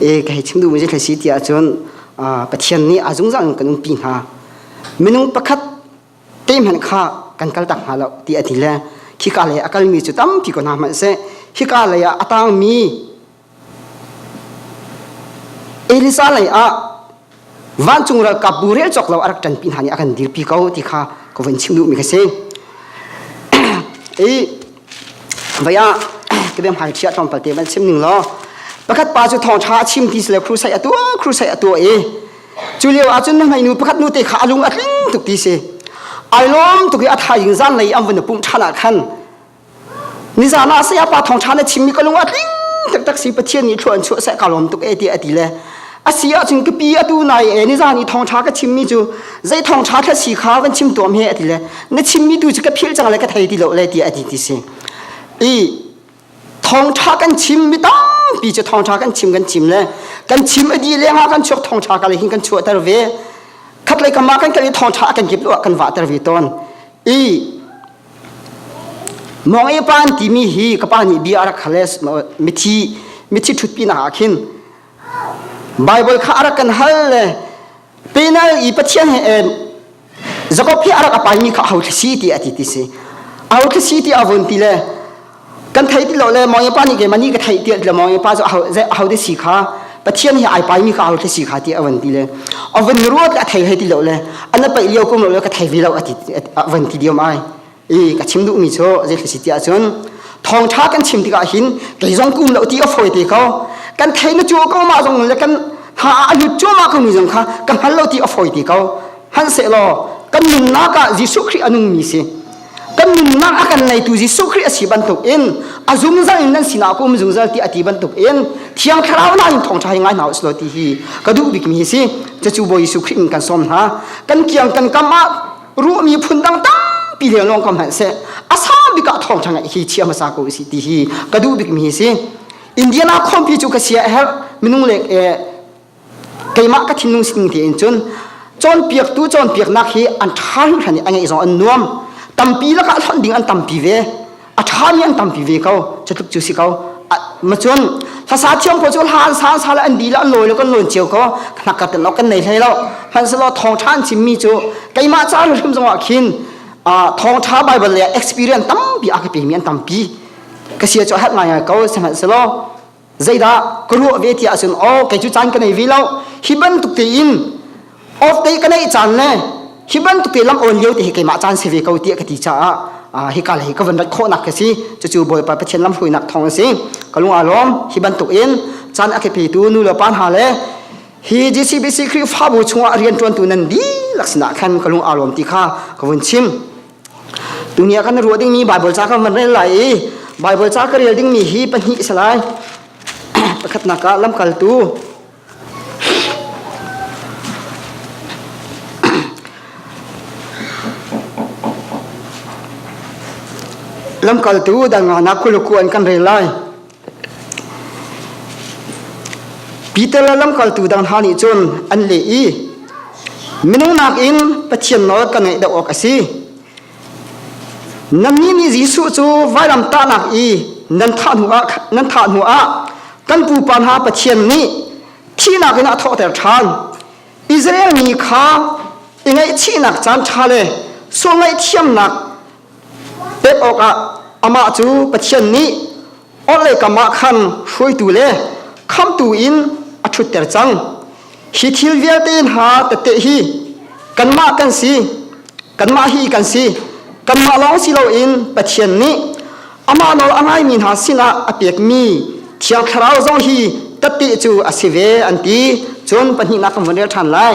e kei chim duhmi cu si ti ahcun Pathian nih a zungzal in kan umpi hna minung pakhat te hmanh kha kan kal tak hna lo ti a ti le khika lei a kalmi cu tampi ko hna hmanh seh khika lei ah a tangmi Elisa lei ah vancung ralkap bu rel cawk lo a rak ṭanpi hna nih a kan dirpi ko ti kha ka vun chim duhmi ka si i vai ah ka biam hai ṭhia tlawm palte van chim ning law pakhat pa cu thawng ṭha a chim ti sile crusade a tuah crusade a tuah i cu lio ah cun hnainu pakhat nu te kha a lung a tling tuk ti si ai lawm tuk i a thaing zan lei an vun pumh ṭhan ah khan nizan ah saya pa thong tha le chimmi ka lung a tling tak si pathian nih thluan chu sai ka lom tuk e ti ati le asi a cun kapi atu nai e nizan i thong tha ka chimmi chu zai thong tha thla si kha kan chim tuam he ati le na chimmi tu chu ka phil chang le ka thei ti lo le ti ati ti si i thong tha kan chim mi tampi chu thong tha kan chim kan chim le kan chim adi lenga kan chuak thong tha ka le hin kan chuah tar ve khat lai kama kan kali thong tha kan kip lo kan wa tar ve ton i Mawngei pan timi hi ka pa nih bia a rak hal mithi mithi ṭhut pinak ah khin Baibal kha a rak kan hal le penal i Pathian he Jakob hi a rak a paimi kha a ho thla si ti a ti ti si a ho thla si ti a vun ti le kan thei ti lo le mawngyapa nih keimah nih ka thei ti le mawngyapa cu a ho te si kha pathian hi ai pai mi ka ho te si kha ti a van ti le a van ruat a thei he ti lo le ana paih lio kum lo le ka thei ve lo a ti a van ti diom ai i ka chim duh mi cu zei thasi ti ahcun thong tha kan chim tikah hin kei zong kum lo ti a foi te ko kan thei na chuo ko ma zong le kan ha a lut chuo ma ko mi zong kha ka hmal lo ti a foi te ko han se lo kan nunnak ah Jesuh Christ anung mi si kan nunnak a kan neitu Jesuh Khrih a si bantuk in a zungzal in nan sinah ka um zungzal ti a ti bantuk in thiang thlarau na in thawngtha hi ngai hna uslo ti hi ka duh bikmi hi si cacu bawi Jesuh Khrih in kan som hna kan kiang kan kam ah ruahmi phun dang tampi leng long kam han se a sa bika thawngtha ngai hi chia hmasa ko si ti hi ka duh bikmi hi si Indiana khompi cu ka sia her minung lek e keimah ka thinlung sining tein cun cawnpiaktu cawnpiaknak hi an ṭha hringhran i a ngeih zong an nuam tampi lakah hlonh ding an tampi ve a ṭhami an tampi ve ko cu tluk cu si ko ma cun hlasa thiam ko cu hlan san sa le an di le an lawi le kan lawn cio ko hnak ka ten kan nei hlei lo hmanselo thawng ṭha an chimmi cu keimah caan hrim zongah khin thawng ṭha bible le experience tampi a ka pemi an tampi ka sia cu a hat ngai ngai ko sihmanhselaw zeidah ka ruah ve tiah cun oh kei cu caan ka nei ve lo hi bantuk tein awt te ka neih caan le hi bantuk te lam awn lio te hi keimah caan si ve ko tiah ka ti caah hi ka hi ka van rat khawhnak ka si cucu bawipa pathian lam hruinak thawng a si ka lung alawm hi bantuk in caan a kepetu nu le pa hna le hi GCBC Khrihfabu chungah rianṭuantu nan dihlak sinah khan ka lung alawm ti kha ka vun chim Dunia kan ruah dingmi Baibal ca kan van rel lai i Baibal ca ka rel dingmi hi pahnih si lai. Pakhatnak ah lamkaltu lamkaltu dan ngahnak kuluku an kan rel lai. Peter le lamkaltu dang hna nih cun an leh i minung nakin Pathian nawl ka ngaih deuh awk a si. Nannih nih Jesuh cu vailam tahnak i nan thah hnu ah nan thah hnu ah kan pupa hna Pathian nih thihnak in a thawhter ṭhan. Israel mi kha i ngaihchihnak caan ṭha le sual ngaihthiamnak pek awkah amah cu Pathian nih orhlei kamah khan hruaitu le khamtu in a ṭhutter cang. Hi thil vialte hna tette hi kanmah kan si, kanmah hi kan si, kanmah lawng si loin Pathian nih amah nawl a ngaimi hna sinah a pekmi Thiang Thlarau zong hi tette cu a si ve an ti. Cun pahnihnak kan vun rel ṭhan lai.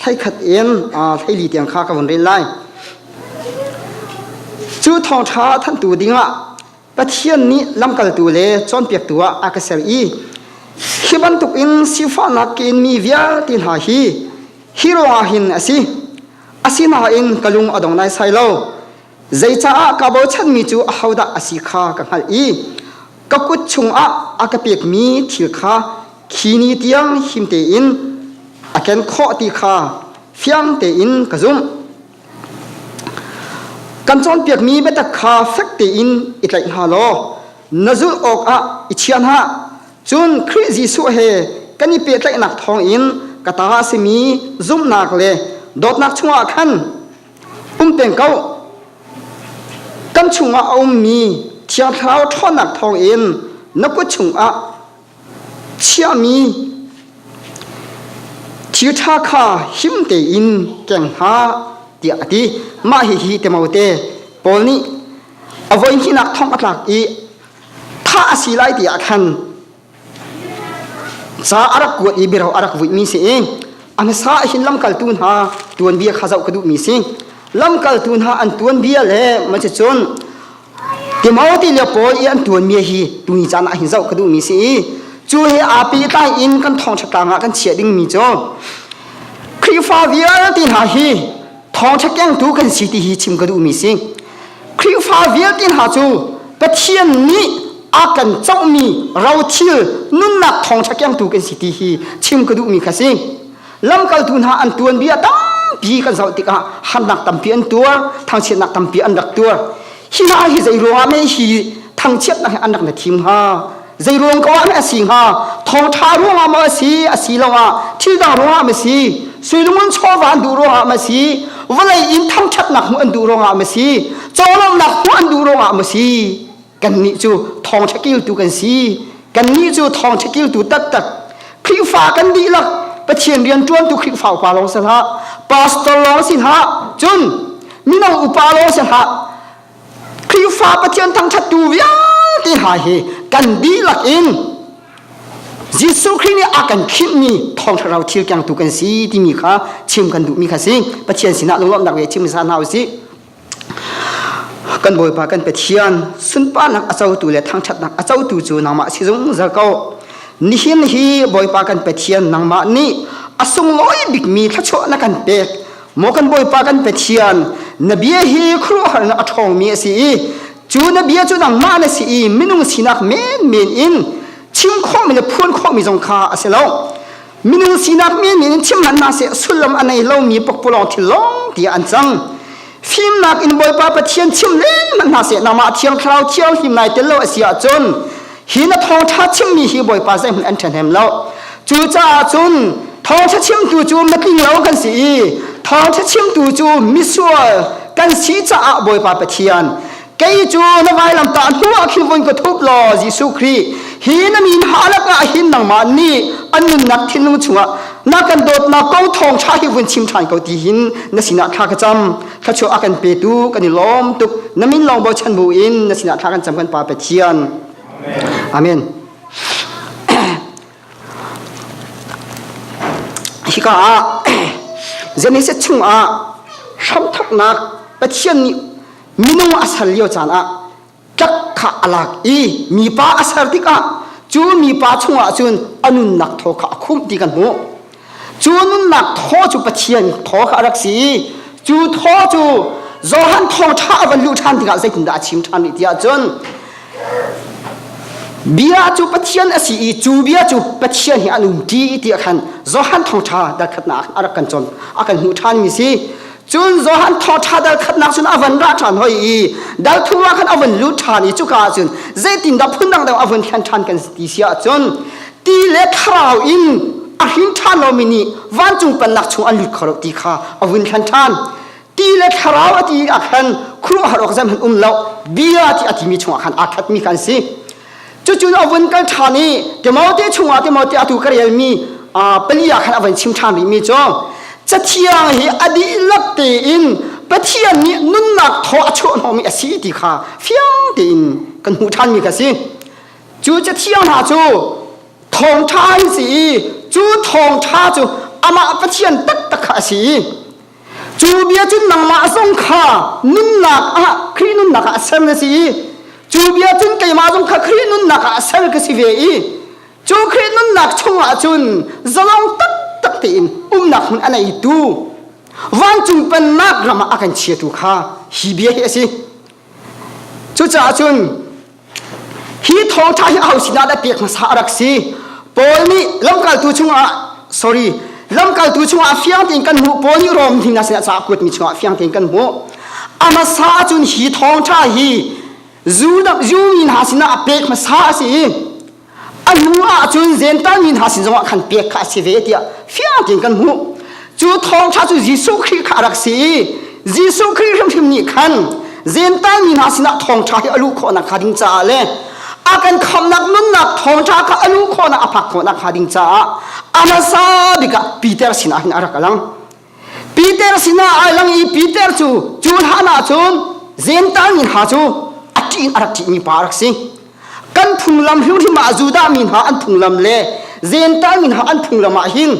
Hleikhat in hleili tiang kha ka vun rel lai. Cu thawngṭha thanhtu dingah Pathian nih lamkaltu le cawnpiaktu ah a ka ser i khi bantuk in sifahnak ka inmi vialte hna hi hi ruangah hin a si. Asinain ka lung a dong naisai lo. Zeicaah ka bochanmi cu ahodah a si kha ka hngalh i ka kut chungah a ka pekmi thil kha khi ni tiang him tein a ken khawh ti kha fiang tein ka zumh. Kan cawnpiakmi biatak kha fek tein i tlaih hna law na zulh awkah i chia hna. Cun Khrih Jesuh he kan i pehtlaihnak thawngin ka ta a simi zumhnak le dawtnak chungah khan um peng ko kan chungah a ummi thiang thlarau ṭhawnnak thawng in na kut chungah chiahmi thilṭha kha him tein keng hna tiah a ti mah hihi temote paul nih a voihninak thong a tlak i thah a si lai tiah khan Ca a rak kuat i biro a rak vuihmi si i a hmasa ahhin lamkaltu hna tuanbia kha zoh ka duhmi si. Lamkaltu hna an tuanbia le macicun Timothy le Paul i an tuanbia hi tuni caan ah hin zoh ka duhmi si i cu he api tlai in kan thawngṭha tlang ah kan chiah dingmi cu Khrihfa vialte hna hi thawngṭha kengtu kan si ti hi chim ka duhmi si Khrihfa vialte hna cu Pathian nih a kan cohmi rothil nunnak thawngṭha kengtu kan si ti hi chim ka duhmi kha si lamkaltu hna an tuan bia tampi kan zoh tikah hannak tampi an tuar thangchiatnak tampi an rak tuar hi hna hi zei ruangah meh hi thangchiatnak he an rak na thim hnga Zei ruang ko ah meh a si hnga? Thawṭha ruangah maw a si, a si lo ah thildang ruangah maw a si, suilung in chawvan duh ruangah maw a si, vawlei in thangṭhatnak hmuh an duh ruangah maw a si, cawlonghnak hmuh an duh ruangah maw a si, kannih cu thawngṭha kiltu kan si. Kannih cu thawngṭha kiltu taktak. Khrihfa kan dihlak Pathian rianṭuantu Khrihfa upa lawng si hlah, pastor lawng si hlah, cun mino upa lawng si hlah, Khrihfa Pathian thangthattu vialte hna hi kan dihlak in Jesuh Khrih nih a kan khimhmi thawng thlarau thil kiang tu kan si timi kha chim kan duhmi kha si Pathian sinah lunglawmhnak ve chim hna hna usih kan Bawipa kan Pathian sunparnak a cotu le thangthatnak a cotu cu nangmah si zungzal ko nihin hi Bawipa kan Pathian nangmah nih a sunglawi bikmi thluachuah na kan pek Mo kan Bawipa kan pe thian na bia hi khuaruahharnak a ṭhawngmi a si i cu na bia cu nangmah na si i minung sinak menmen in chim khawhmi le phuan khawhmi zong kha a si lo minung sinak menmen in chim hlan seh sullam a nei lomi pakpalawng thil lawng tiah an cang fimnak in Bawipa Pathian chim leng hlan seh nangmah thiang thlarau thiang hlim nai tel lo a si ahcun Hi na thawngṭha chimmi hi Bawipa zeihmanh an ṭhen hem lo. Cucaah cun thawngṭha chimtu cu mitlinglo kan si i thawngṭha chimtu cu misual kan si caah Bawipa Pathian kei cu na vailamtah hnuah khin vun ka thup law Jesuh Khrih hi na min ha lakah hin nangmah nih a nunnak thinlung chungah na kan dawtnak kong thawngṭha hi vun chim ṭhan ko ti hin na sinah thla ka cam. thachuah a kan petu kan i lawm tuk na min lawng bochan bu in na sinah thla kan cam kan pa pathian amen hika ah genesis chung ah hramthaknak pathian nih minung a ser lio caan ah tlak kha a lak i mipa a ser tikah cu mipa chungah cun a nunnak thaw kha a khumh ti kan hmuh cu nunnak thaw cu pathian thaw kha a rak si i cu thaw cu Johan thawṭha a van luh ṭhan tikah zeitindah a chim ṭhan rih tiah cun bia cu pathian a si i cu bia cu pathian he an um ṭi tiah khan Johan thawṭha darkhatnak a rak kan cawn a kan hmuh ṭhan mi si cun Johan thawṭha dal khatnak cun a van ra ṭhan hoi i dalthu ah khan a van lut ṭhan i cuka ah cun zeitindah phun dang dang a van thlen ṭhan kan si ti si ahcun ti le thlarau in a hrin ṭhan lomi nih vancung pannak chung an lut kho lo ti kha a vun thlen ṭhan ti le thlarau a ti ah khan khuruahhar awk zeihmanh um lo bia ti a timi chungah khan aa khatmi kha an si cucun avun kal ṭhan i Timote chungah Timote atu ka relmi pali ah khan avun chim ṭhan rihmi cu cathiang hi a dihlak tein Pathian nih nunnak thaw a chuahhnawhmi a si ti kha fiang tein kan hmuh ṭhanmi kha si cu cathiang hna cu thawngṭha an si i cu thawngṭha cu amah Pathian taktak kha a si i cu bia cun nangmah zong kha nunnak ah Khrih nunnak ah ser na si i cu bia cun keimah zong kha Khrih nunnak ah ser ka si ve i cu Khrih nunnak chungah cun zalong taktak tein umnak hmun a neitu vancung pennak ram ah a kan chiatu kha hi bia hi a si cucaah cun Hi thawngtha hi aho sinah dah pek hmasa a rak si? Paul nih lamkaltu chungah sorry lamkaltu chungah fiang tein kan hmuh Paul nih Rom hnin a sinah ca kuat mi chungah fiang tein kan hmuh amasa ahcun hi thawngtha hi Judah Jew mi hna sinah a pek hmasa a si i A hnu ahcun zentalmi hna sin zongah khan pek kha a si ve tiah fiang tein kan hmuh. Cu thawngṭha cu Jesuh Khrih kha a rak si i Jesuh Khrih hrimhrim nih khan zentalmi hna sinah thawngṭha hi a luh khawhnak hnga ding caah le a kan khamhnak nunnak thawngṭha kha a luh khawhnak a phak khawhnak hnga ding caah a hmasa bik ah Peter sinah hin a rak lang. Peter sinah ai lang i Peter cu cu hlan ah cun zental mi hna cu a ṭih in a rak ṭihmi pa a rak si. Kan phunglam hrimhrim ah Judah mi hna an phunglam le zental mi hna an phunglam ah hin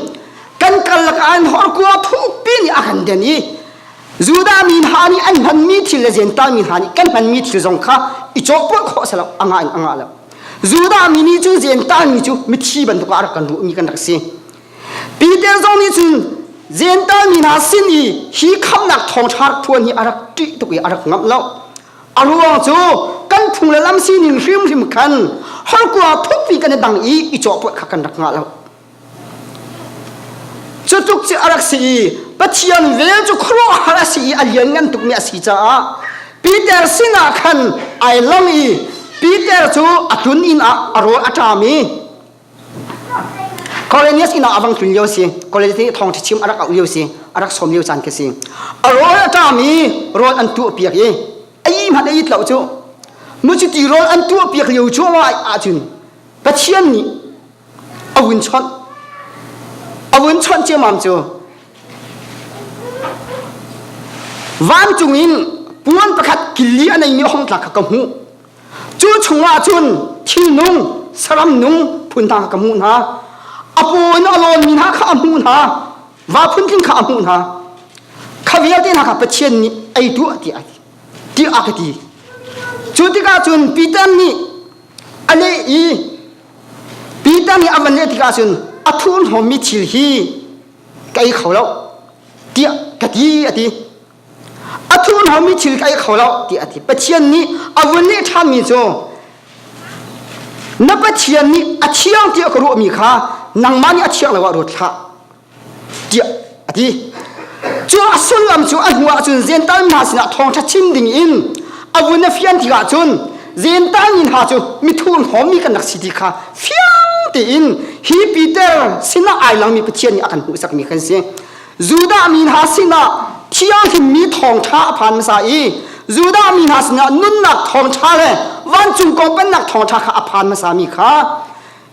kan karlak ah hin horkua thukpi nih a kan den i Judah mi hna nih an hmanmi thil le zental mi hna nih kan hmanmi thil zong kha i cawhpawlh khawh a si lo a ngah in a ngah lo Judah mi nih cu zental mi cu mithi bantuk ah a rak kan ruhmi kan rak si Peter zong nih cun Zentaal mi hna sin i hi khamnak thawngṭha ṭhuan hi a rak ṭih tuk i a rak ngamh lo. A ruang cu kan phung le lam sin in hrimhrim khan holkua thukpi kan i dang i i cawhpawt kha kan rak ngah lo. Cu tluk cu a rak si i Pathian vel cu khuaruahhar a si i a lianngan tukmi a si caah Peter sinah khan ai lang i Peter cu a tlun inn ah a rawl a ṭam i Cornelius inn ah a vang tlun lio si Cornelius nih thawngṭha chim a rak auh lio si a rak sawm lio caan khi si a rawl a ṭami rawl an tuah piak i a yi hmanh a it lo cu nu cu ti rawl an tuah piak lio cu ahcun Pathian nih a vun chawnh a vun chawnh ciamam cu vancung in puan pakhat kili a neimi a hong tla kha ka hmuh cu chungah cun thilnung saram nung phun hna ka hmuh hna a paw in a lawnmi hna kha a hmuh hna va phun kha a hmuh hna kha vialte hna kha pathian nih ei tuah ti a ti ti a ka ti cu tikah cun Peter nih a leh i Peter nih a van leh tikah cun a thurhnawmmi thil hi ka ei kho lo tiah ka ti a ti a thun haumi thil ka kho lo ti a ti pathian nih a vun leh ṭhanmi cu na pathian nih a thiang tiah ka ruahmi kha nangmah nih a thiang lo ah ruat hlah tiah a ti cu a sullam cu a hnuah cun zental hna sinah thawngṭha chim ding in a vun a fian tikah cun zental in hna cu mithur hawmi kan rak si ti kha fiang tein hi Peter sinah ai langmi Pathian nih a kan hmuhsakmi kan si Judah mi hna sinah thianghlimmi thawngṭha a phan hmasa i Judah mi hna sinah nunnak thawngṭha le vancung kong pennak thawngṭha kha a phan hmasa mi kha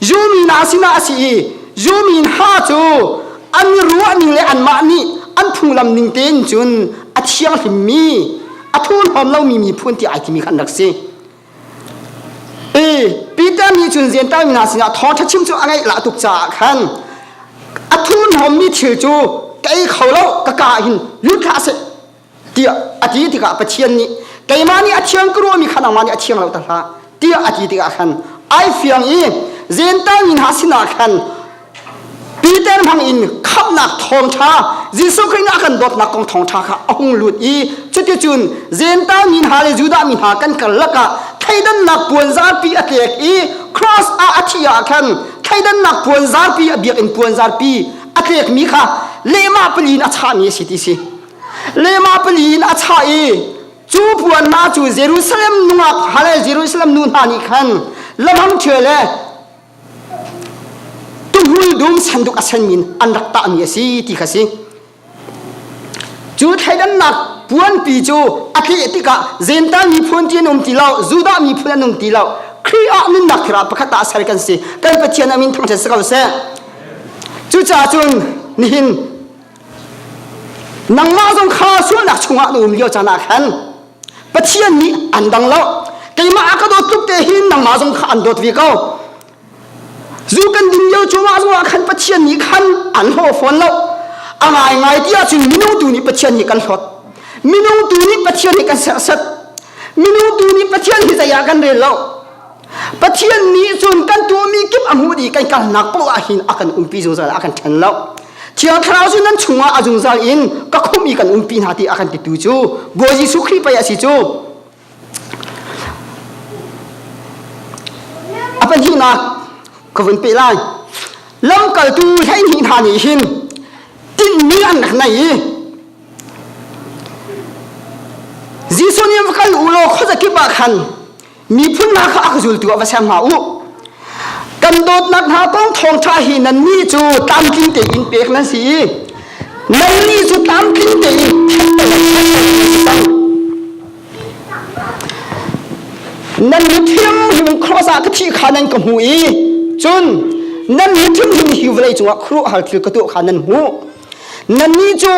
Jew mi hna sinah a si i Jew mi hna cu an ruahning le anmah nih an phunglam ning tein cun a thianghlimmi a thuhlawm lomi miphun ti ai timi khan rak si. Peter nih cun Zentaimi hna sinah thawṭha chim cu a ngeih lah tuk caah khan a thil hmuhmi thil cu ka ei kho lo ka ka ah hin lut hlah seh tiah a ti tikah Pathian nih keimah nih a thiang ka ruahmi kha nangmah nih a thiang lo ta hlah tiah a ti tikah khan ai fiang i Zentaimi hna sinah khan Peter hmang in khamnak thawngtha Jesuh Khrih a kan dawtnak kong thawngtha kha a hung lut i cuticun Gentile mi hna le Judah mi hna kan karlak ah thleidannak puanzarpi a tlek i cross ah a thih ah khan thleidannak puanzarpi a biakinn puanzarpi a tlekmi kha lehmah pali in a chahmi a si ti si lehmah pali in a chah i cu puan hna cu Jerusalem nungak hale Jerusalem nu hna nih khan lamhang ṭhie le Tumhul dum sanduk a sen min an rak tahmi a si ti kha si. Cu thleidannak puanpi cu a tleh tikah Zentaal miphun ti an um ti lo, Judah miphun an um ti lo. Khrih ah nunnak thirah pakhat ah ser kan si. Kan Pathian amin thangṭhat si ko seh. Cucacun nihin nangmah zong kha sualnak chungah na um lio caan ah khan Pathian nih an dang lo keimah a ka dawt tluk te hin nangmah zong kha an dawt ve ko zu kan din lio cumah zong ah khan Pathian nih khan an ho fawn lo a ngaingai ti ahcun minung tu nih Pathian hi kan hlawt minung tu nih Pathian hi kan serset minung tu nih Pathian hi zei ah kan rel lo Pathian nih cun kan tuahmi kip a hmuh dih kan kalnak paoh ah hin a kan umpi zungzal a kan ṭhen lo. Thiang Thlarau cu nan chungah a zungzal in ka khumh i kan umpi hna ti a kan titu cu Bawi Jesuh Khrih pei a si cu. A pahnihnak ka vun peh lai. Lamkaltu hleihnih hna nih hin tinhmi an rak nei i Jesuh nih va kal u law khuazakip ah khan miphun hna kha ak zultu ah va sem hna u kan dawtnak hna kong thawngṭha hi nannih cu tlamtling tein pek nan si i nannih cu tlamtling tein nan mithiamhim cross ah ka thi kha nan ka hmu i cun nan mithiamhim hi vawlei cungah khuruh hal thil ka tuah kha nan hmu nannih cu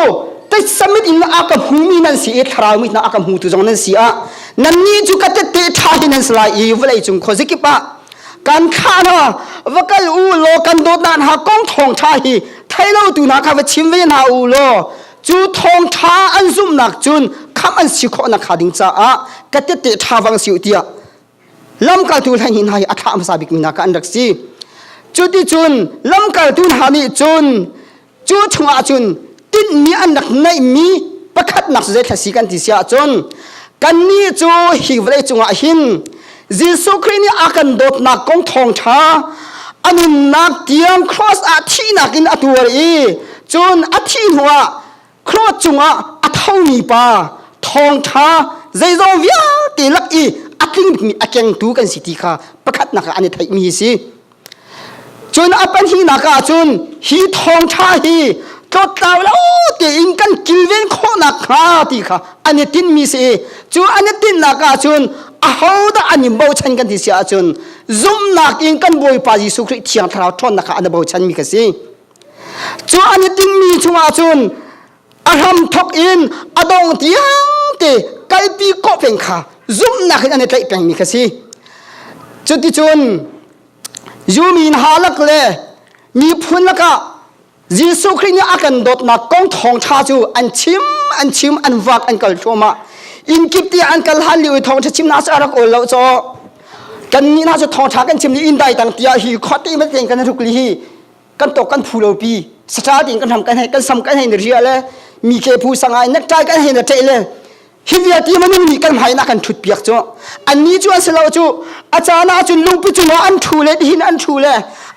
taisamit in a ka hmumi nan si i thlarau mit a ka hmu tu zong nan si ah nannih cu ka tette ṭha hi nan si lai i vawlei cung khuazikip ah kan khan ha va kal u law kan dawtnak hna kong thawng ṭha hi thailotu hna kha va chim ve hna u law cu thawng ṭha an zumhnak cun kham an si khawhnak hnga ding caah ka tette ṭha vang si u tiah lamkaltu hleihnih hna hi a thlah hmasa bikmi hna kha an rak si cuticun lamkaltu hna nih cun cu chungah cun tinhmi an rak neihmi pakhatnak zei thla si kan ti si ahcun kannih cu hi vawlei cungah hin Jesuh Khrih nih a kan dawtnak kong thawngṭha a nunnak tiang cross ah thihnak in a tuar i cun a thih hnuah Claude cungah a thomi pa thawngṭha zeizong vialte lak i a tlingmi a kengtu kan si ti kha pakhatnak ah an i theihmi hi si. Cun a pahnihnak ah cun hi thawngṭha hi tlotlau lo tein kan kilven khawhnak hnga ti kha an i tinmi si i cu an i tinnak ah cun ahodah an i bochan kan ti si ahcun zumhnak in kan Bawipa Jesuh Khrih Thiang Thlarau ṭhawnnak kha an i bochanmi ka si. Cu an i tingmi chungah cun a hram thok in a dong tiangte kalpi kawh peng kha zumhnak in an i tlaih pengmi kha si. Cuticun yumin halak le miphun lakah Jesuh Khrih nih a kan dawtnak kong thawngṭha cu an chim, an chim, an vak, an kal thluahmah. Inn kip tiah an kal hlan lio i thawngṭha chim hna cu a rak ol lo caw. Kannih hna cu thawngṭha kan chim ni inn dai tang tiah hi khawte in kan ruk li hi kan tok kan phu lo pi satra tin kan ram kan hei kan sam kan hei na ria le mi ke phu sang ai nak trai kan hei na ṭe le hi viati maning ni kan hmai na kan thut piak chu an ni chu an selo chu achana chun lungpi chung an thu le hin an thu le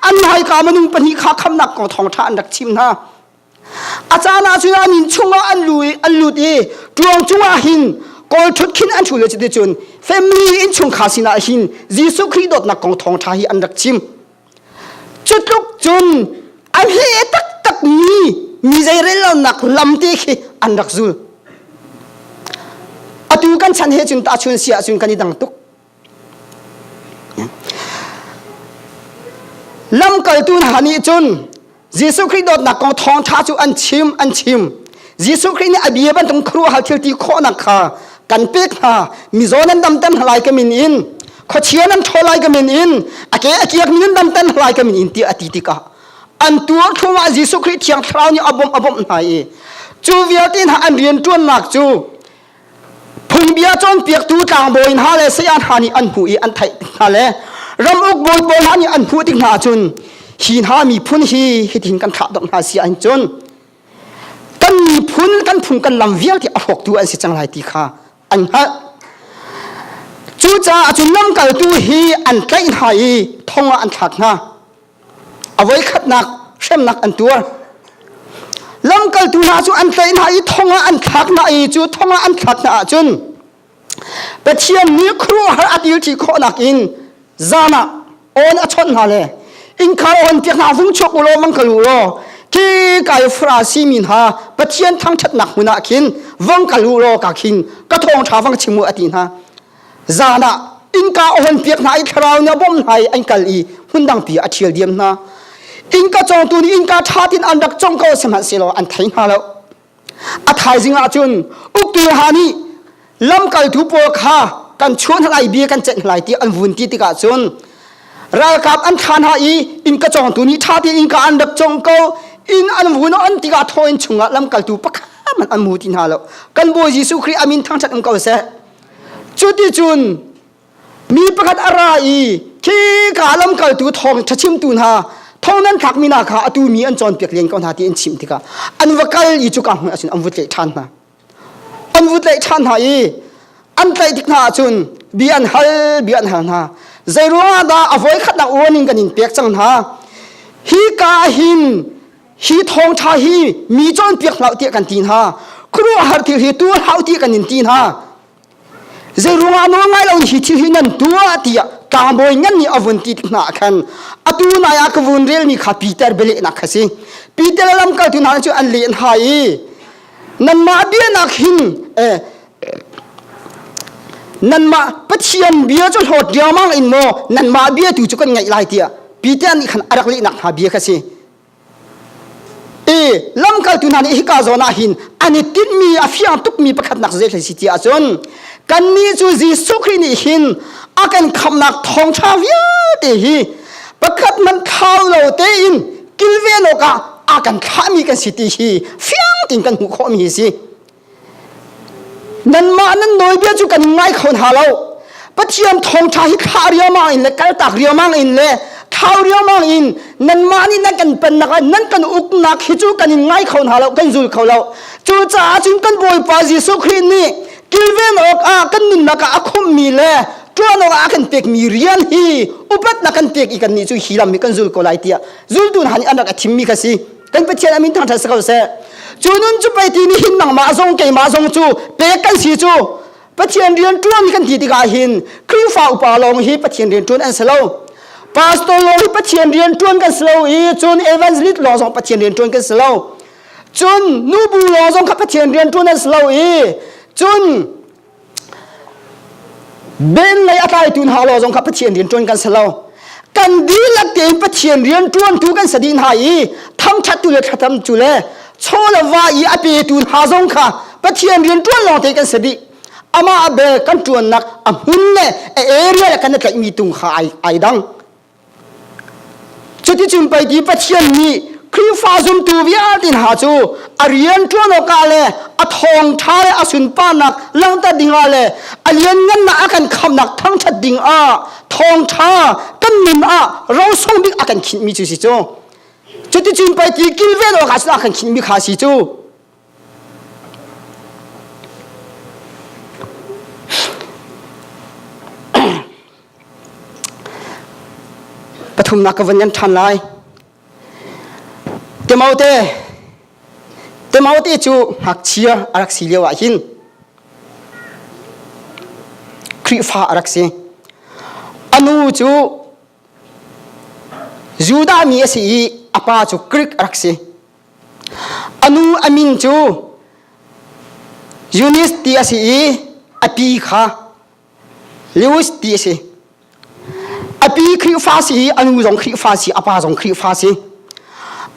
an hai ka manung pahnih kha kham nak ko thong tha an rak chim na achana chu an in chunga an lui an lut i tuang chunga hin kol thut khin an thu le chiti chun family in chung kha sina hin jesu christ dot na kong thong tha hi an rak chim Cutluk cun an he taktakmi mi zeirellonak lam te khi an rak zul. Atu kan chan he cun tahchun si ahcun kan i dang tuk. Lamkaltu hna nih cun Jesuh Khrih dawtnak kong thawngṭha cu an chim an chim Jesuh Khrih nih a bia bantuk khru hal thil ti khawhnak kha kan pek hna mizaw nan dam tan lai ka min in khuachia nan ṭhawl lai ka min in a ke a kiak mi nan dam tan lai ka min in ti a ti tikah an tuar thum ah Jesuh Khrih thiang thlarau nih a bawmh a bawmh hna i cu vialte hna an rian ṭuannak cu Phungbia cawnpiaktu tlangbawi hna le saya hna nih an hmuh i an theih tik hna le ramuk bawi pawl hna nih an hmuh tik hna cun hi hna miphun hi hitin kan thlah dok hna si ahhin cun kan miphun kan phung kan lam vialte a hrawktu an si cang lai ti kha an hngalh cucaah cun lamkaltu hi an tlaih hna i thong ah an thlak hna a voikhatnak hremnak an tuar lamkaltu hna cu an tlaih hna i thong ah an thlak hna i cu thong ah an thlak hna ahcun pathian nih khuaruahhar a tilṭi khawhnak in zan ah awn a chawnh hna le innkhar awn tiak hna vung chuak u law mang kal u law ke kai fura si mi hna pathian thangṭhatnak hmun ah khin vong kal u law ka khing ka thawng ṭha vang chim u a ti hna zan ah innka ohonpiak hna i thlarau nih a bawmh hna i an kal i hmundangpi a ṭhial diam hna innka cawngtu nih innka ṭhat in an rak cong ko sihmanhsehlaw an thei hna lo a thaizing ah cun ukilha nih lamkaltu pawl kha kan chuan lai bia kan cenh lai ti an vun ti tikah cun ralkap an thla hna i innka cawngtu nih ṭha tein innka an rak cong ko inn an vun an tikah thaw in chungah lamkaltu pakhat man an mu ti hna lo kan bawi jesuh khrih amin thang ṭhat um ko seh Cuticun mi pakhat a ra i khi ka lamkaltu thawngṭha chimtu hna thong nan thlakmi hna kha atu mi an cawnpiak len ko hna ti an chimh tikah an va kal i cu ka hmuh ahcun an vut tlaih ṭhan hna an vut tlaih ṭhan hna i an tlaih tik hna ahcun bia an hal bia an hal hna zeiruangah dah a voi khatnak warning kan in pek cang hna hi ka hin hi thawngtha hi mi cawnpiak hlah tiah kan ti hna khuaruahhar thil hi tu hlau ti kan in ti hna zei ruangah nawl ngai lo hi thil hi nan tua tiah tlangbawi ngan nih avun ti tik hna khan atu nai a ka vun rel mi kha Peter bele nak kha si Peter lam kal tu hna cu an len ha i nan ma bia nak hin eh nan ma pathian bia cu hlawt riamang in mo nan ma bia tu cu kan ngai lai tia Peter nih khan arak li nak hna bia kha si i lamkaltu hna nih hika zawn ah hin an i tinhmi a fiang tukmi pakhatnak zeihlei si ti ahcun kannih cu Jesuh Khrih nih hin a kan khamhnak thawngṭha vialte hi pakhat hmanh thau lo tein kilven awkah a kan thlahmi kan si ti hi fiang tein kan hmuh khawhmi hi a si. Nanmah nan nawlbia cu kan ngai kho hna lo. Pathian thawngṭha hi thlah riangmang in le kaltak riangmang in le thau riangmang in nanmah nih nan kan pennak ah nan kan uknak hi cu kan in ngai kho hna lo kan zul kho lo cucaah cun kan bawipa jesuh khrih nih kilven awkah kan nunnak ah a khumhmi le ṭuan awkah a kan pekmi rian hi upatnak kan pek i kannih cu hi lam hi kan zul ko lai tiah zultu hna nih an rak i thimmi kha si kan pathian a min thangṭhat si ko seh cu nun cu pei ti nih hin nangmah zong keimah zong cu pek kan si cu pathian rian ṭuan kan ti tikah hin Khrihfa upa lawng hi pathian rian ṭuan an si lo pastor lawng hi pathian rian ṭuan kan si lo i cun evangelist lawng zong pathian rian ṭuan kan si lo cun nubu lawng zong kha pathian rian ṭuan an si lo i cun Ben lei a tlaitu hna lo zong kha Pathian rianṭuan kan si lo kan dihlak te Pathian rianṭuantu kan si ding hna i thangṭhattu le thlacamtu le chawlava i a petu hna zong kha Pathian rianṭuan lawng te kan si dih amah be kan ṭuannak a hmun le a area le kan i tlaihmi tung kha ai ai dang Cuticun pei ti Pathian nih Khrihfa zumtu vialte hna cu a rian ṭuan awkah le a thawngṭha le a sunparnak langhter dingah le a lianngannak a kan khamnak thangṭhat dingah thawngṭha kan nun ah rosung bik a kan khinhmi cu si cu. Cuticun pei ti kilven awkah cun a kan khinhmi kha a si cu. Pathumnak ka vun yan ṭhan lai. Timote Timote cu ngakchia a rak si lio ah hin Khrihfa a rak si. A nu cu Judah mi a si i a pa cu Greek a rak si. A nu a min cu Eunice ti a si i a pi kha Lewis ti a si. A pi Khrihfa si i a nu zong Khrihfa si a pa zong Khrihfa si.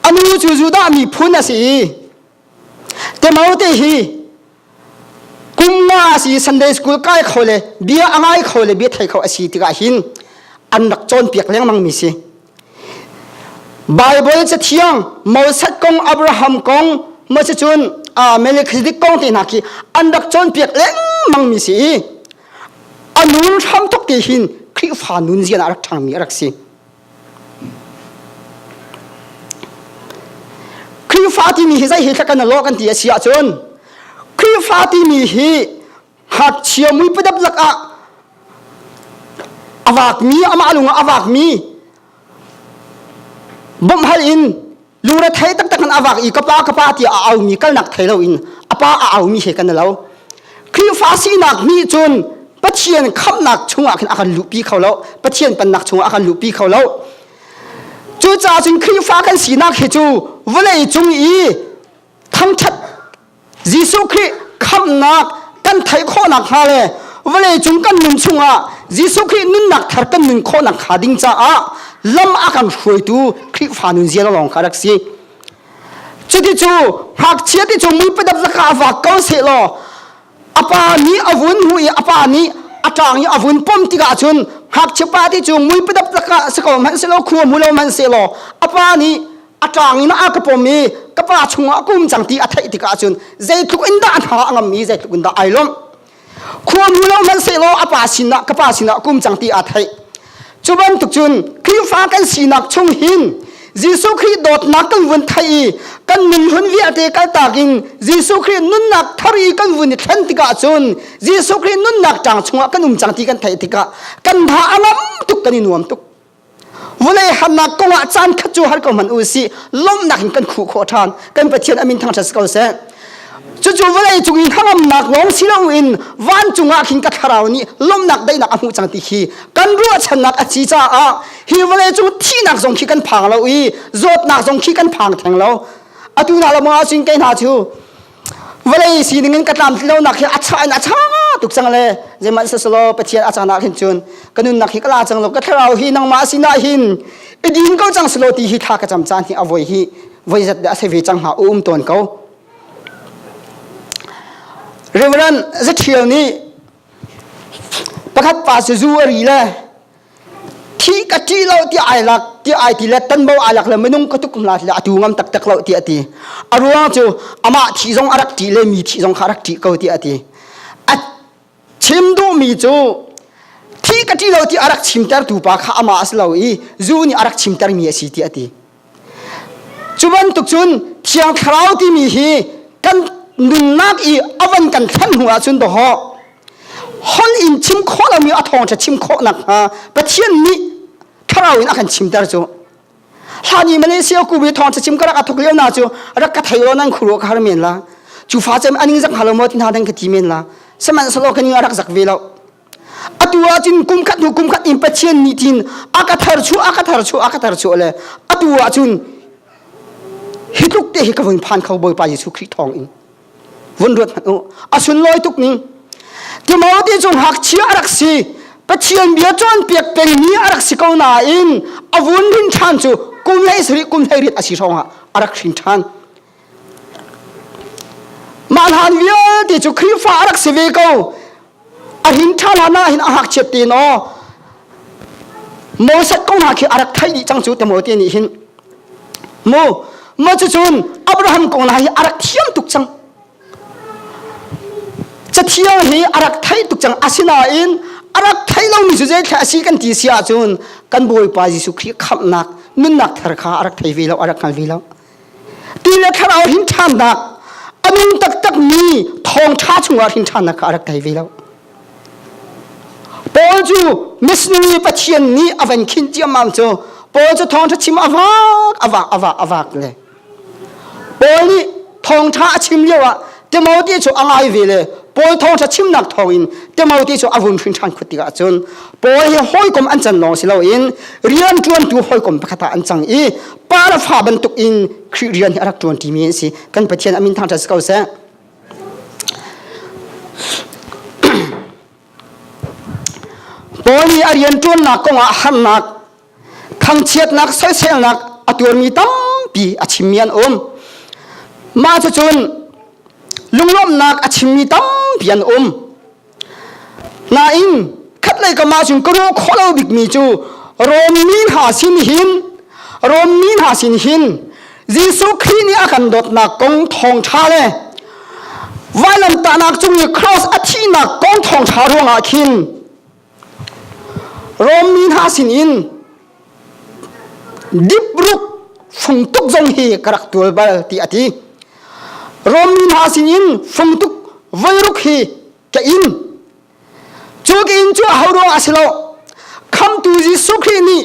A nu cu Judah miphun a si i Timote hi kumnga asi sunday school kai kho le bia angai kho le bia thei kho asi tikah hin an rak cawn piak lengmang mi si bible ca thiang mosat kong abraham kong ma se cun melchizedek kong te hna khi an rak cawn piak lengmang mi si i a nun hram tuk ti hin khrifa nun zian a rak ṭhangmi a rak si Khrihfa timi hi zei hi thlak kan law kan ti a si ahcun Khrihfa timi hi hngakchia mui padap lak ah a vaakmi amah lung ah a vaakmi bawmhhal in lungre thei taktak in avak i kapa kapa ti a aumi kalnak thei lo in apa a aumi he kan lo Khrihfa sinak mi cun Pathian khamnak chungah khin akan luhpi kho lo Pathian pannak chungah akan luhpi kho lo cu ca cun Khrihfa kan sinak hi cu vawlei cung i thangthat Jesuh Khrih khamnak kan theih khawh nakhnga le vawleicung kan nun chungah Jesuh Khrih nunnak thar kan nun khawh nakhnga ding caah lam a kan hruaitu Khrihfa nunzia lawng kha rak si. Cuti cu ngakchia ti cu mui padap na ka vak ko seh law a pa nih a vun hu i a pa nih a ṭang i a vun pom tikah cun ngakchia pa ti cu mui padap na ka si ko hmanh seh law khua mu lo hmanh seh law a pa nih a ṭang in a ka pom i ka pa chungah a kum cang ti a theih tikah cun zeitluk in dah hna a ngammi zeitluk in dah ai lawmh khuanu lo hmanhsehlaw a pa sinah ka pa sinah kum cang ti aa theih cu bantuk cun Khrihfa kan sinak chung hin Jesuh Khrih dawtnak kan vun thei i kan nun hun vialte kaltak in Jesuh Khrih nunnak thar i kan vun i thlen tikah cun Jesuh Khrih nunnak ṭang chungah kan um cang ti kan theih tikah kan tha a ngam tuk kan i nuam tuk vunei harnak kong ah caan khat cu har ko hman u si lawmhnak in kan khuh khawh ṭhan kan pathian amin thang ṭha si ko seh cucu vawlei cung i hnangamnak lawng si loin vancung ah khin ka thlarau nih lawmhnak daihnak a hmuh cang ti khi kan ruahchannak a si caah hi vawlei cung thihnak zong khi kan phang lo i zawtnak zong khi kan phang theng lo atu hna lamang ah cun kei hna cu vawlei sining in ka tlamtlinlonak hi a cha in a cha tuk cang le zeihmanh sasalaw pathian a caan ah khin cun ka nunnak hi ka la cang lo ka thlarau hi nangmah sinah hin i din ko cang selo ti hi thla ka cam caan hi a voi hi voi zat de a se ve cang hnga um tawn ko Reverend Zathial nih Pakhat pa si zu a ri le thi ka ṭi lo tiah ai lak tiah ai ti le tanbo ai lak le minung ka tuk hna tilah a tu ngam taktak lo tiah a ti a ruang cu amah thi zong a rak ṭi le mi thi zong kha a rak ṭi ko tiah a ti a chim duhmi cu thi ka ṭi lo ti a rak chimtertu pa kha amah a si lo i zu nih a rak chimtermi a si tiah a ti Cu bantuk cun Thiang Thlarau timi hi kan nunnak i a van kan thlen hnu ahcun dawh hol in chim khawh lomi a thawngṭha chim khawh nakhnga Pathian nih thlarau in a kan chimter cu hlan i Malaysia kubu i thawngṭha chim ka rak a thok lio na cu rak ka thei lo nan khuru ka har men la cu fa cem a ning zak halo maw ti hna dang ka ti men la sihmanhsehlaw ka ning a rak zak ve loh atu ahcun kum khat hnu kum khat in Pathian nih tin a ka thar chu a ka thar chu a ka thar chu le atu ahcun hi tluk te hi ka vun phan kho Bawipa Jesuh Khrih thawng in vun ruat hmanh u a sun loi tuk ning Timothy cu ngakchia a rak si Pathian bia cawn piak peng mi a rak si ko nain a vun rin ṭhan cu kum hei sari kum hei rit a si hrawngah a rak hrin ṭhan Mah hlan vialte cu Khrihfa a rak si ve ko. A hin ṭha hlan ah hin a hak chiat te no. Moses ko hna khi a rak theih dih cang cu tamo te nih hin. Mu ma cu cun Abraham kong hna hi a rak thiam tuk cang. Cathiang hi a rak thei tuk cang asinain a rak thei lomi cu zeitlai a si kan ti si ahcun kan Bawipa Jesuh Khrih khamhnak nunnak thar kha a rak thei ve lo, a rak hngal ve lo. Ti le thlarau hrinthannak a nung taktakmi thawngṭha chungah hrinthannak kha a rak ngei ve lo. Paul cu missionary Pathian nih a van khin ciammam cu Paul cu thawngṭha chim a vak a vak a vak a vak le Paul nih thawngṭha a chim lioah Timothy cu a ngai ve le Paul thawngṭha chimnak thawngin Timothy cu a vun hrinṭhan khut tikah cun Paul hi hawikom an can lawng si loin rian ṭuantu hawikom pakhat ah an cang i pa le fa bantuk in Khrih rian hi a rak ṭuanṭimi an si kan Pathian a min thangṭhat si ko seh Paul nih a rian ṭuannak kongah harnak Thangchiatnak soiselnak a tuarmi tampi a chimmi an um. Mah cucun lunglawmhnak a chimmi tampi an um. Nain khatlei kamah cun ka ruah khawh lo bikmi cu Rom mi hna sin hin Rom mi hna sin hin Jesuh Khrih nih a kan dawtnak kong thawngṭha le vailamtahnak cung i cross a thihnak kong thawngṭha ruangah khin Rom mi hna sinin dipruk fungtuk zong hi ka rak tual bal ti a ti. Rom mi hna sinin fungtuk voiruk hi ka in cu ka in cu ho ruang a si lo khamtu Jesuh Khrih nih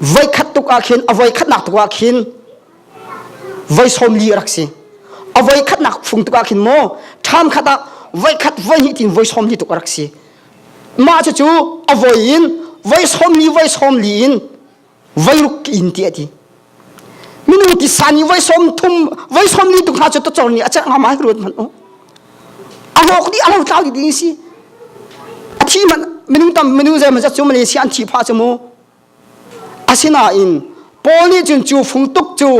voikhat tuk ah khin a voikhatnak tuk ah khin voi sawmli a rak si a voikhatnak fung tuk ah khin maw ṭham khat ah voikhat voihnih tin voi sawmli tuk a rak si mah cucu a voi in voi sawmli voi sawmli in voi ruk in ti a ti minung tisa ni voi som thum voi som ni tu hna cu to chor ni a cek ngam ai ruat man o a hlok di a lo tlau di ding si a thi man minung tam minung ze ma za chu malaysia an thi pha chu mu asinain paul nih cun cu fung tuk cu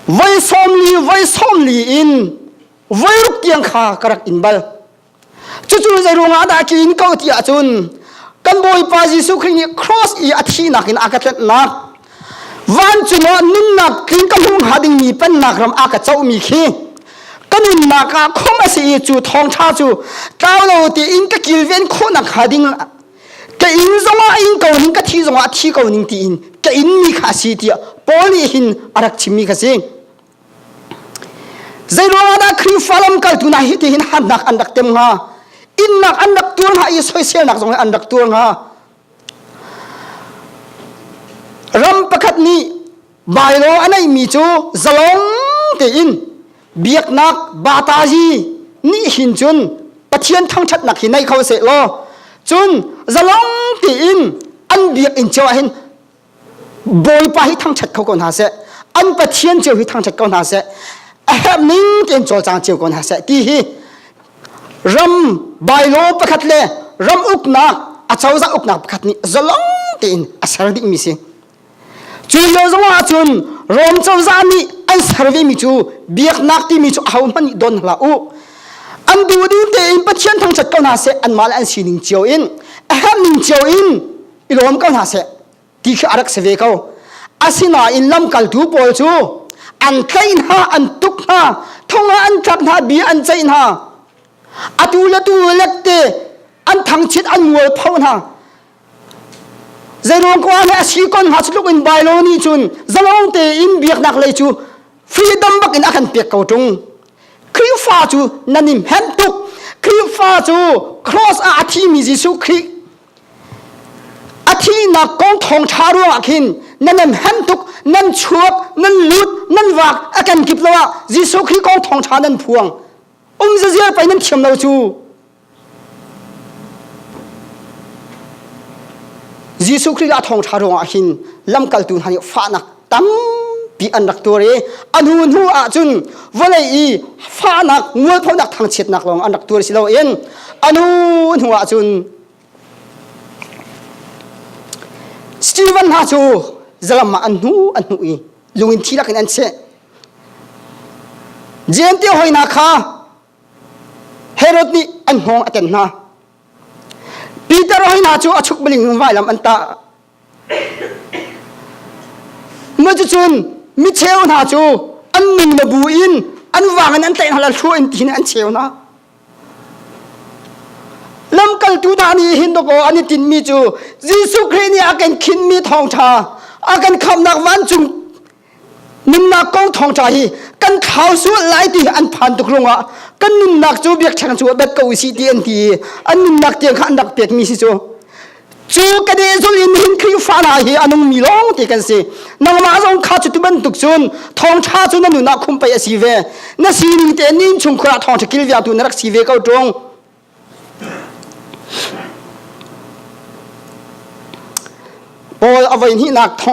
voi som li voi som li in voi ruk tiang kha ka rak in bal cucu zei ruangah dah tlin ko ti ahcun kan bawipa jesuh khrih nih cross i a thihnak in a ka tletnak vancung ah nunnak tling ka hmu hnga dingmi pennak ram a ka cohmi khi ka nunnak ah khom a si i cu thawngṭha cu tlau lo tein ka kilven khawhnak hnga ding ka inn zongah ing ko ning ka thi zongah thi ko ning tiin ka inmi kha a si tiah Paul nih hin a rak chimmi kha si Zeiruangah dah Khrihfa lamkaltu hna hi tihin harnak an rak tem hnga? Innak an rak tuar hnga i soiselnak zong an rak tuar hnga. Ram pakhat nih bailo a neihmi cu zalong tein biaknak bataji nih hin cun Pathian thangṭhatnak hi nei kho seh law cun zalong tein an biak in cheu ah hin Bawipa hi thangṭhat kho ko hna seh an Pathian cio hi thangṭhat ko hna seh a herh ning tein cawlcang cio ko hna seh ti hi ram bylaw pakhat le ram uknak acozah uknak pakhat nih zalong tein a ser dingmi si cu lio zongah cun Rom cozah nih an servemi cu biaknak timi cu ahohmanh nih don hla u an duhdim tein Pathian thangṭhat ko hna seh anmah le an sining cio in a herh ning cio in i lawm ko hna seh ti khi a rak si ve ko asinain lamkaltu pawl cu an tlaih hna an tuk hna thong ah an tlak hna bia an ceih hna atu le tu lette an thangchit an mualpho hna zeiruang ko le a si kon hna tluk in bailoni cun zalong tein biaknak lei cu freedom bak in a kan pek ko tung Khrihfa cu nanim hem tuk Khrihfa cu cross ah a thimi Jesuh Khrih A thihnak kong thawngṭha ruangah khin nan nan hem tuk, nan chuak, nan lut, nan vak a kan kip lo ah Jesuh Khrih kong thawngṭha nan phuang. Um zaziar pei nan thiam lo cu. Jesuh Khrih a thawngṭha ruangah khin lamkaltu hna nih fahnak tampi an rak tuar i a hnu hnu ah cun vawlei i fahnak mualphonak thangchiatnak lawng an rak tuar si loin a hnu hnu ah cun Stephen hna cu zalam ah an hnu an hnu i lungin thi lakin an cheh Jente hoina kha Herod nih an hngawng a ten hna Peter hoina cu a chuk maling vailam an tah Cucun micheu hna cu an min mabu in an vang in an tlaih hna la thluah in ti an cheu hna. Lamkaltu hna nih hin dawkaw an i tinmi cu Jesuh Khrih nih a kan khinhmi thawngṭha a kan khamhnak vancung nunnak kong thawngṭa hi kan thlau sual lai ti an phan tuk rungah kan nunnak cu biakṭheng cu a bat ko si ti an ti i an nunnak tiang kha an rak pekmi si cu cu ka de zul in hin Khrihfa hna hi a nungmi lawng ti kan si nangmah zong kha cu bantuk cun thawngṭha cu na nun ah khum pei a si ve na sining te nin chung khurah thawngṭha kil viatu na rak si ve ko ṭung Paul a vain hi nak thong